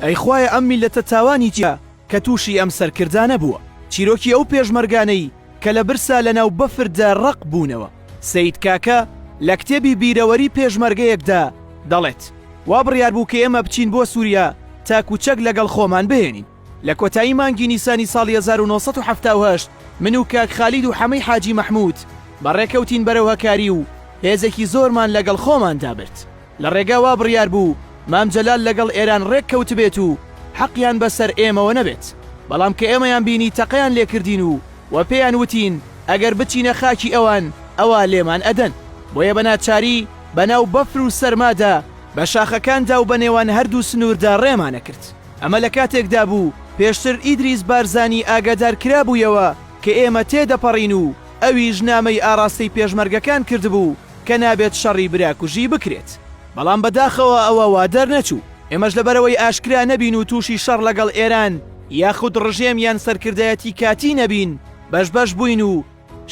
ئەی خوایە ئەم میللەتە تاوانی چیە کە توشی ئەم سەرکردانە بووە چیرۆکی ئەو پێشمەرگانەی کە لە برسا لە ناو بەفردا ڕەق بوونەوە سەید کاکە لە کتێبی بیرەوەری پێشمەرگەیەکدا دەڵێت وا بڕیار بوو کە ئێمە بچین بۆ سوریا تاکو چەک لەگەڵ خۆمان بهێنین لە کۆتایی مانگی نیسانی ساڵی هەزار و نۆ سەد و حەفتا و هەشت من و کاک خالید و حەمەی حاجی مەحمود بەڕێکەوتین بەرەو هەکاری و هێزێکی زۆرمان لەگەڵ خۆماندا برد لە ڕێگا وا بڕیار بوو مام جەلال لەگەڵ ئێران ڕێک کەوتبێت و حەقیان بە سەر ئێمەوە نەبێت، بەڵام کە ئێمەیان بینی تەقەیان لێ کردین و وە پێیان وتین ئەگەر بچینە خاکی ئەوان ئەوا لێمان ئەدەن، بۆیە بە ناچاری بە ناو بەفر و سەرمادا بە شاخەکاندا و بە نێوان هەردوو سنووردا ڕێمان ئەکرد. ئەمە لە کاتێکدا بوو پێشتر ئیدریس بارزانی ئاگادار کرابوویەوە کە ئێمە تێ دەپەڕین و ئەویش نامەی ئاڕاستەی پێشمەرگەکان کردبوو، کە نابێت شەڕی برا کوژی بکرێت، بەڵام بەداخەوە ئەوە وا دەرنەچوو، ئێمەش لەبەرئەوەی ئاشکرا نەبین و تووشی شەڕ لەگەڵ ئێران یاخود ڕژێم یان سەرکردایەتی کاتی نەبین بەش بەش بووین و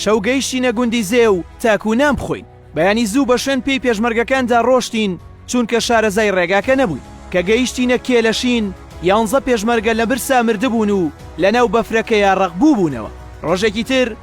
شەو گەیشتینە گوندی زێو تاکوو نان بخۆین، بەیانی زوو بە شوێن پێی پێشمەرگەکاندا ڕۆشتین چوونکە شارەزای ڕێگاکە نەبووین، کە گەیشتینە کێلەشین یانزە پێشمەرگە لە برسا مردبوون و لەناو بەفرەکەیا ڕەق بووبوونەوە، ڕۆژێکی تر،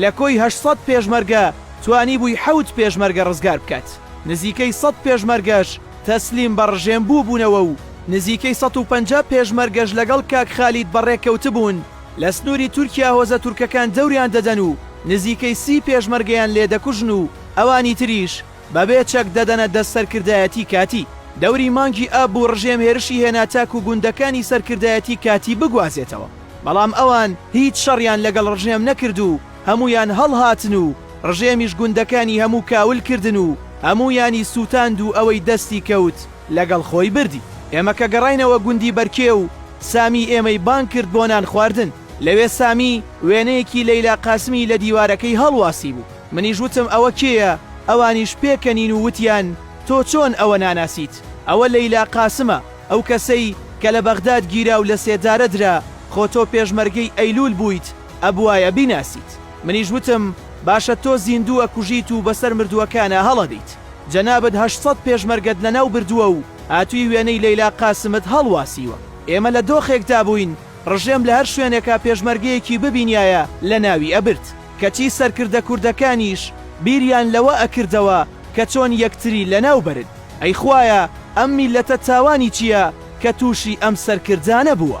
لە کۆی هەشت سەد پێشمەرگە توانیبووی حەوت پێشمەرگە ڕزگار بکات، نزیکەی سەد پێشمەرگەش تەسلیم بە ڕژێم بووبوونەوە و نزیکەی سەد و پەنجا پێشمەرگەش لەگەڵ کاک خالید بەڕێ کەوتبوون لە سنووری تورکیا هۆزە تورکەکان دەوریان دەدەن و نزیکەی سی پێشمەرگەیان لێ دەکوژن و ئەوانی تریش بەبێ چەک دەدەنە دەست سەرکردایەتی کاتی. دەوری مانگی ئاب بوو ڕژێم هێرشی هێنا تاکو گوندەکانی سەرکردایەتی کاتی بگوازێتەوە، بەڵام ئەوان هیچ شەڕیان لەگەڵ ڕژێم نەکرد و هەموویان هەڵهاتن و ڕژێمیش گوندەکانی هەموو کاول کردن و هەموویانی سووتاند و ئەوەی دەستی کەوت لەگەڵ خۆی بردی. ئێمە کە گەڕاینەوە گوندی بەرکێو، سامی ئێمەی بانگ کرد بۆ نان خواردن. لەوێ سامی وێنەیەکی لەیلا قاسمی لە دیوارەکەی هەڵواسیبوو. منیش وتم ئەوە کێیە؟ ئەوانیش پێکەنین و وتیان تۆ چۆن ئەوە ناناسیت؟ ئەوە لەیلا قاسمە، ئەو کەسەی کە لە بەغداد گیرا و لەسێدارە درا، خۆ تۆ پێشمەرگەی ئەیلوول بوویت، ئەبوایە بیناسیت. منیش وتم باشە تۆ زیندوو ئەکوژیت و بەسەر مردووەکانا هەڵئەدەیت. جەنابت هەشت سەد پێشمەرگەت لەناو بردووە و هاتووی وێنەی لەیلا قاسمت هەڵواسیوە. ئێمە لە دۆخێکدا بووین ڕژێم لە هەر شوێنێکا پێشمەرگەیەکی ببینیایە لەناوی ئەبرد. کەچی سەرکردە کوردەکانیش بیریان لەوە ئەکردەوە کە چۆن یەکتری لەناو بەرن. ئەی خوایە ئەم میللەتە تاوانی چیە کە توشی ئەم سەرکردانە بووە.